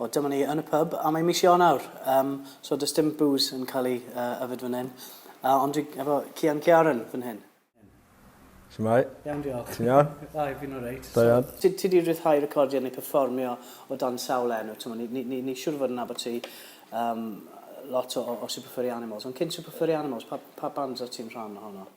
O dyma ni yn y pub a mae mis Ionawr yym so does dim bŵs yn cael ei yy yfed fan hyn yy ond dwi efo Cian Ciaran fan hyn. Shwmae? Iawn diolch. Ti'n iawn? Da i fi'n oreit. Da iawn. So ti ti di rhyddhau recordio neu perfformio o dan sawl enw t'mo' ni ni ni ni siŵr o fod yn nabod ti yym lot o o o Super Furry Animals ond cyn Super Furry Animals pa pa bands o' ti'n rhan ohono?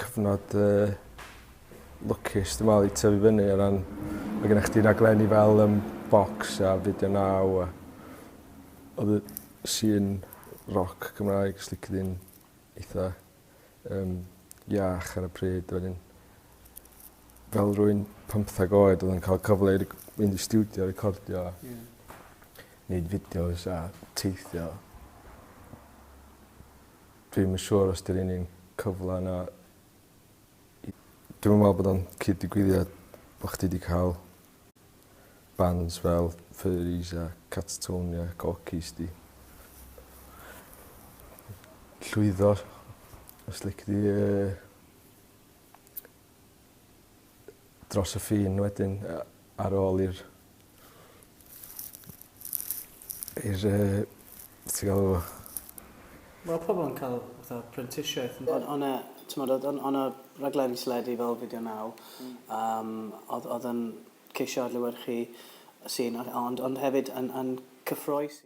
Cyfnod yy lwcus dwi me'wl i tyfu fyny o ran ma' gennych chdi raglenni fel yym Vox a Video Now a odd y sîn roc Cymraeg os lici di'n eitha yym iach ar y pryd wedyn fel rywun pymtheg oed odd e'n ca'l cyfle i rec- mynd i stiwdio recordio a... Ie. ...neud fideos a teithio. Dwi'm yn siŵr os 'di'r un un cyfla yna i... Dwi'm yn me'wl bod o'n cyd-digwyddiad bo' chdi 'di ca'l bands fel Furys a Catatonia a Gorky's 'di llwyddo os lici di yy dros y ffin wedyn yy ar ôl i'r i'r yy be' ti galw fo? Ma' pobol yn ca'l fatha prentisiaeth on' on' o' 'na t'mod o'dd on' o' 'na raglenni teledu fel Video Now yym odd odd yn ceisio adlewyrchu y sîn a- ond ond hefyd yn yn cyffrous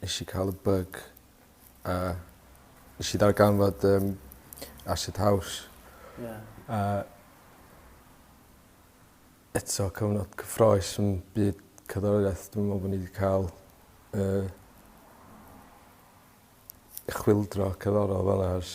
nesh i ca'l y byg a nesh i ddarganfod yym acid house. Ie. A eto cyfnod cyffrous yn byd cerddoriaeth dwi'm yn me'wl bo' ni 'di ca'l y y chwyldro cerddorol fel 'a ers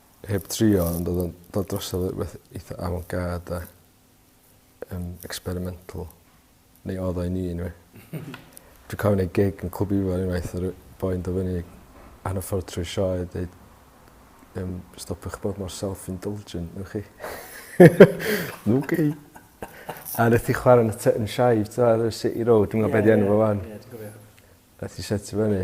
Heb drio ond odd o'n dod drosodd yy beth eitha avant-garde 'de? Yym experimental. Neu odd o i mi eniwe. Dwi cofio neud gig yn Clwb Ifor unwaith o' ryw boi'n do' fyny ar y ffordd trwy'r sioe a deud yym stopiwch bod mor self indulgent newch chi? Oce. A neth 'i chwara yn y ty- yn y sioe t'mo' ar y City Road dwi'm yn gwbo be' 'di enw fo 'wan. Ie ie dwi cofio. Nath 'i setio fyny.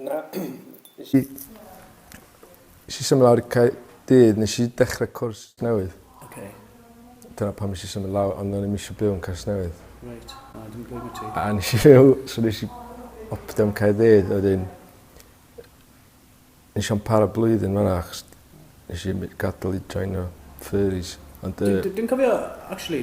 Na. Nes i... Nes i symud lawr i Caerdydd, nes i dechre cwrs newydd. Oce. Dyna pam nes i symud lawr, ond o'n i'm isio byw yn Casnewydd. Reit, na, dim blame ti. A nes i fyw, so nes i optio am Caerdydd a wedyn nes i'm para blwyddyn fan 'na achos nes i my- gadel i joino furries ond yy... Dwi dwi'n cofio actually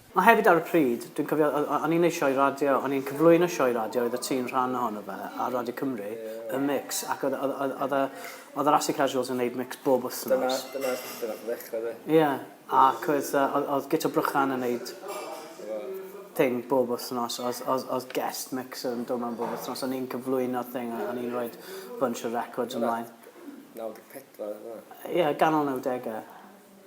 Mae hefyd ar y pryd, dwi'n cofio, o- o- o'n i'n neud sioe radio, o'n i'n cyflwyno sioe radio oeddet ti'n rhan ohono fe ar Radio Cymru, y mix, ac oedd oedd oedd oedd y oedd yr Acid Casuals yn neud mix bob wythnos. Dyna dyna lle nath o ddechra de? Ie, ac oedd yy oedd oedd Guto Brychan yn neud thing bob wythnos, oedd oedd oedd guest mixer yn dod mewn bob wythnos, o'n i'n cyflwyno thing a o'n i'n roid bunch o records ymlaen. Naw deg pedwar oedd wnna? Ie, ganol nawdege.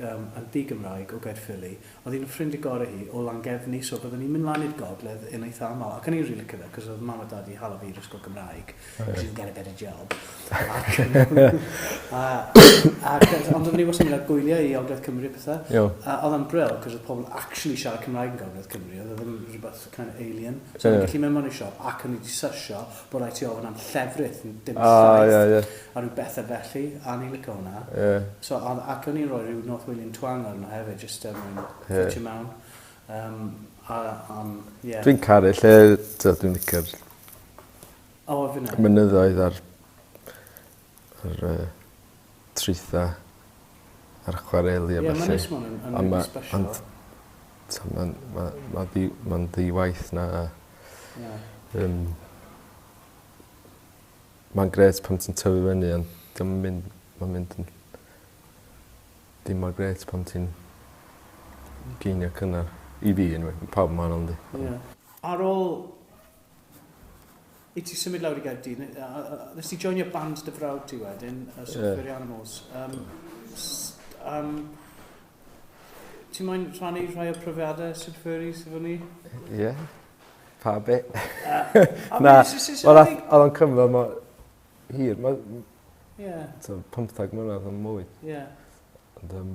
yn ddi-Gymraeg o Gaerffili, oedd un o ffrindiau gorau hi o Langefni, so byddwn ni'n mynd lan i'r gogledd yn eitha aml, ac o'n i'n rili cyfle, cos oedd mam a dad wedi hala fi i'r ysgol Gymraeg, cos you can get a better job, ac, a, ac, ond oedden ni wastad yn cael gwyliau i Ogledd Cymru a pethau, a oedd o'n bril, cos oedd pobl actually siarad Cymraeg yn Gogledd Cymru, oedd e ddim rhywbeth kind of alien, so o'n i'n gallu mynd mewn i'r siop, ac o'n i wedi sysio, Bo raid ti ofyn am llefrith, dim llaeth, a rhyw bethe felly, a ni'n lico hwnna. So, ac o'n i'n rhoi rhyw North Walian twang arno hefyd, jyst er mwyn ffitio mewn. Yym, a, yym, ie. Dwi'n caru lle, t'od dwi'n licio'r... O, fi'n 'el. ...mynyddoedd a'r yr yy trwytha a'r chwareli a ballu. Ie ma'n neis ma' wnna'n yn rili sbesial. A ma' ond t'o' ma'n ma' ma' ddi ma'n ddi-waith 'na a... Ie. ...yym ma'n grêt pan ti'n tyfu fyny on' 'di o'm yn mynd ma'n mynd yn dim mor grêt pan ti'n gainio cynnar. I fi eniwe ma' pawb yn wahanol yndi? Ie. Ar ôl I ti symud lawr i Gaerdydd, nes ti joinio band dy frawd ti wedyn, y Software yeah. Animals. Um, um, ti'n moyn rhannu rhai o profiadau Super Furries efo ni? Ie. Yeah. Pa be? Na, oedd o'n cymryd yma hir. Mae, yeah. 15 mlynedd yn mwy. Yeah. Ond, um,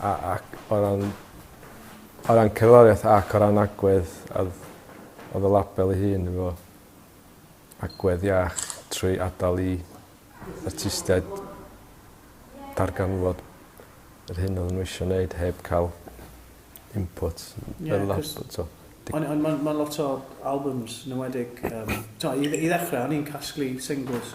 A ac o ran o ran cerddoriaeth ac o ran agwedd a odd odd y label ei hun efo agwedd iach trwy adal i artistiaid darganfod yr hyn odden n'w isio neud heb ca'l input y label t'o'. On' on' ma'n ma'n lot o albums 'n enwedig yym t'o' i i ddechre o'n i'n casglu singles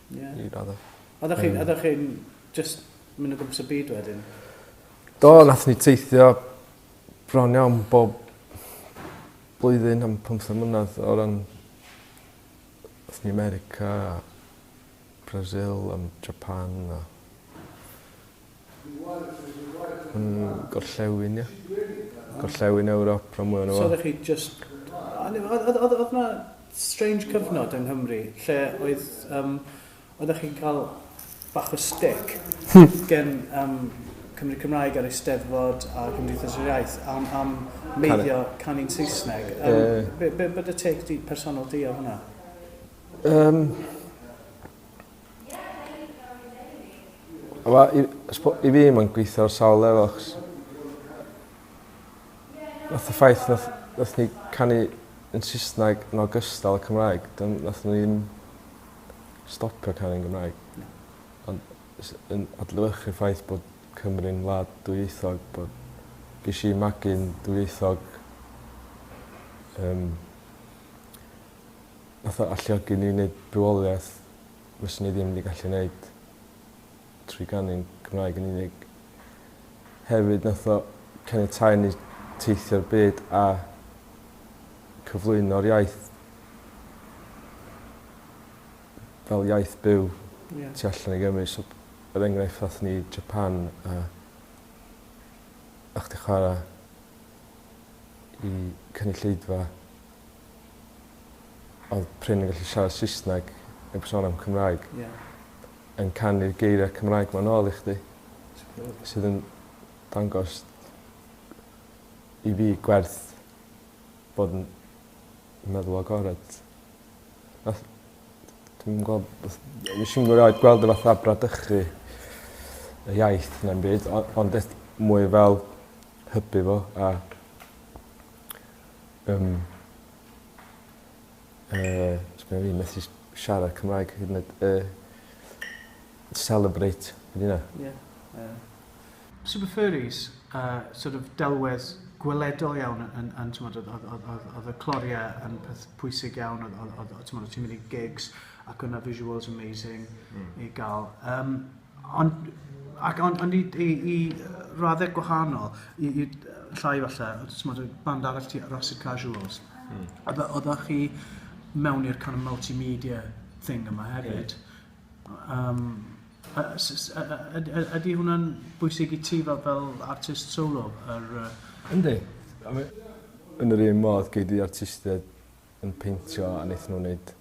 Ie. I radde. Oddach chi'n oddach chi'n jyst myn' o gwmpas y byd wedyn? Do nathon ni teithio bron iawn bob blwyddyn am pymthag mlynadd o ran athon ni America a Brazil a m- Japan a yn gorllewin ia? Gorllewin Ewrop rhan mwya ohono fo. So oddech chi jyst o'n i o'dd o'dd o'dd na strange cyfnod yng Nghymru lle oedd yym oeddech chi'n ca'l bach o stick gen yym Cymry Cymraeg a'r Eisteddfod a Cymdeithas yr Iaith am am meiddio canu'n Saesneg yym be' be' be' o'dd dy take di personol di ar hwnna? Yym. A ma' i I spo- i fi ma'n gwitho ar sawl lefel achos nath y ffaith nath nath ni canu yn Sysnag yn ogystal â Cymraeg dim nath o ddim stopio canu yn Gymraeg. Na. Ond jys yn adlewyrchu ffaith bod Cymru'n wlad dwyieithog bod gesh i magu'n dwyieithog yym fatha alluogi ni i neud bywoliaeth fyswn ni ddim 'di gallu neud trwy ganu'n Cymraeg yn unig. Hefyd nath o caniatáu i ni teithio'r byd a cyflwyno'r iaith fel iaith byw... Ie. ...tu allan i Gymru so er enghraifft athon ni i Japan a a chdi chwara i cynulleidfa odd prin yn gallu siarad Saesneg neb yn sôn am Cymraeg. Ie. Yn canu'r geiria' Cymraeg 'ma nôl i chdi. Superb. Sydd yn dangos i fi gwerth bod yn meddwl agored. Nath dwi'm yn gwel beth... Nesh i'm erioed gweld o fatha bradychu y iaith na'm byd o- ond beth mwy fel hybu fo a Yym. Yy sgenna fi methu s- siarad Cymraeg hyd yn oed yy celebrate be' 'di wnna? Ie yy. Super Furries a sort of delwedd gweledol iawn yn yn yn t'mod odd odd odd odd odd y clorie yn peth pwysig iawn odd odd odd o' t'mod o' ti'n mynd i gigs ac o' 'na visuals amazing. Hmm. I ga'l yym. Ond ac ond ond i i i raddau gwahanol i i llai falle o t'mod y band arall ti Rhapsid Casuals. Hmm. A fe- oddach chi mewn i'r kind of multimedia thing yma hefyd. Ie. Yym a s- s- a- a- yd- yd- ydy hwnna'n bwysig i ti fel fel artist solo yr yy... Yndi. A mae... Yn yr un modd gei di artistiaid yn peintio a neith nw neud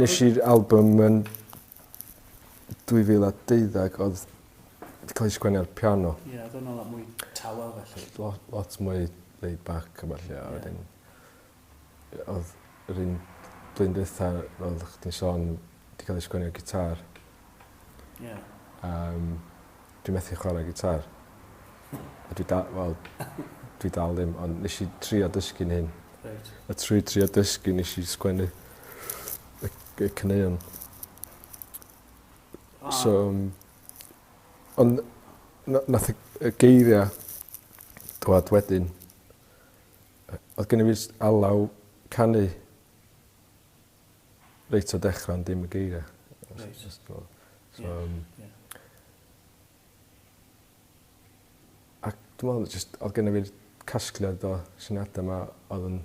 Nesh i'r album yn dwy fil a deuddeg odd 'di ca'l 'i sgwennu ar piano. Ie odd wnna lot mwy tawel felly. Lo- lot mwy laid back a ballu a wedyn yy odd yr un blwyddyn dwetha fel oddach chdi'n sôn 'di ca'l 'i sgwennu ar gitâr. Ie. Yym dwi methu chware gitâr. A dwi da- wel dwi dal ddim ond nesh i trio dysgu'n hŷn. Reit. A trwy trio dysgu nesh i sgwennu y c- y caneuon. A. So yym ond na- nath y y geiria' dwad wedyn. Yy odd genno fi jst alaw canu. reit o dechra ond dim y geiria. Reit. Jyst fel so yym... Ie ie. A dwi me'wl ma' jyst odd genno fi'r casgliad o syniada 'ma odd yn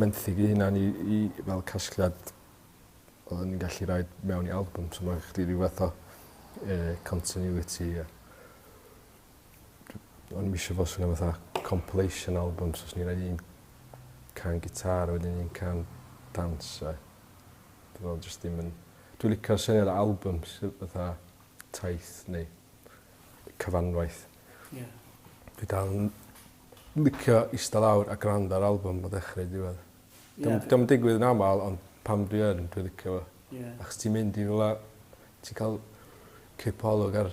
menthyg fy hunan i i fel casgliad oddwn i'n gallu roid mewn i albwm so ma' chdi ryw fath o yy continuity a O'n i'm isio fo swnio fatha compilation album so swn i roi un can gitâr a wedyn un can dawns a dwi me'wl jyst dim yn... Dwi licio syniad o albym sy fatha taith neu cyfanwaith. Ie. Dwi dal yn licio ista lawr a grando ar albym o ddechre i ddiwedd. Ie. 'Di o'm 'di o'm yn digwydd yn amal ond pan dwi yn dwi licio fo. Ie. Achos ti'n mynd i rwla ti ca'l cipolwg ar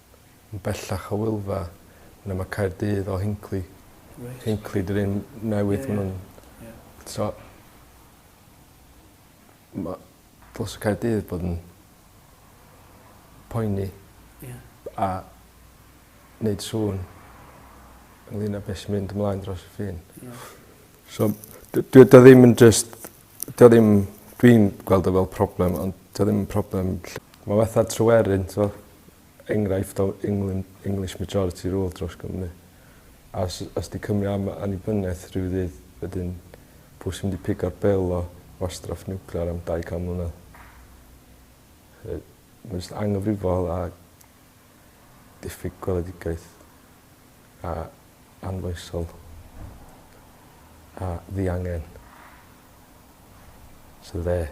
yn bellach o Wylfa ne' ma' Caerdydd o Hinckley. Reit. Hinckley 'di'r un newydd ma' nw'n... Ie ie. ...t'o' ma' dylse Caerdydd bod yn poeni. Ie. A neud sŵn ynglŷn â be' sy mynd ymlaen dros y ffin. Ie. So d- dyw e ddim yn jyst 'di o ddim dwi'n gweld o fel problem ond 'di o ddim yn problem ll-... Ma' fatha Tryweryn t'mo'? enghraifft o England, English majority rule dros Gymru. A os, os di Cymru am annibyniaeth rhyw ddydd, wedyn pw sy'n mynd i pigo'r bil o wastraff niwclear am 200 mlynedd? Yy, mae'n just anghyfrifol a diffyg gweledigaeth a anfoesol a ddiangen. So there.